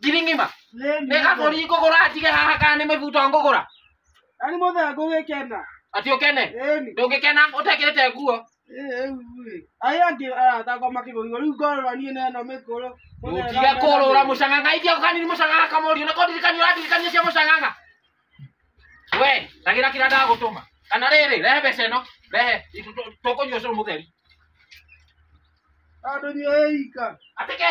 Ngiri ng'ima? Nĩ kabũri ngũgũra njige haha kana nĩ mĩbuto ngũgũra? Ani mothe ngũgĩkena. Ati ũkene? Ĩni. Ndũngĩkena ũtekĩrĩte nguo? Ai angĩ arathakwo makĩgũrirwo rĩu ngorora niĩ na ĩno mĩkũrũ. Mũthee Ũtige na- kũrũra mũcang'ang'a itia ũkanini mũcang'ang'a kamũriũ nako ndirikania ũrandirikania cia mũcang'ang'a. we ragira kira ndagutuma kana riri rehe mbeca ĩno rehe tũkũnyua cũrũ mũtheri Andũ nĩ oika. atĩkĩ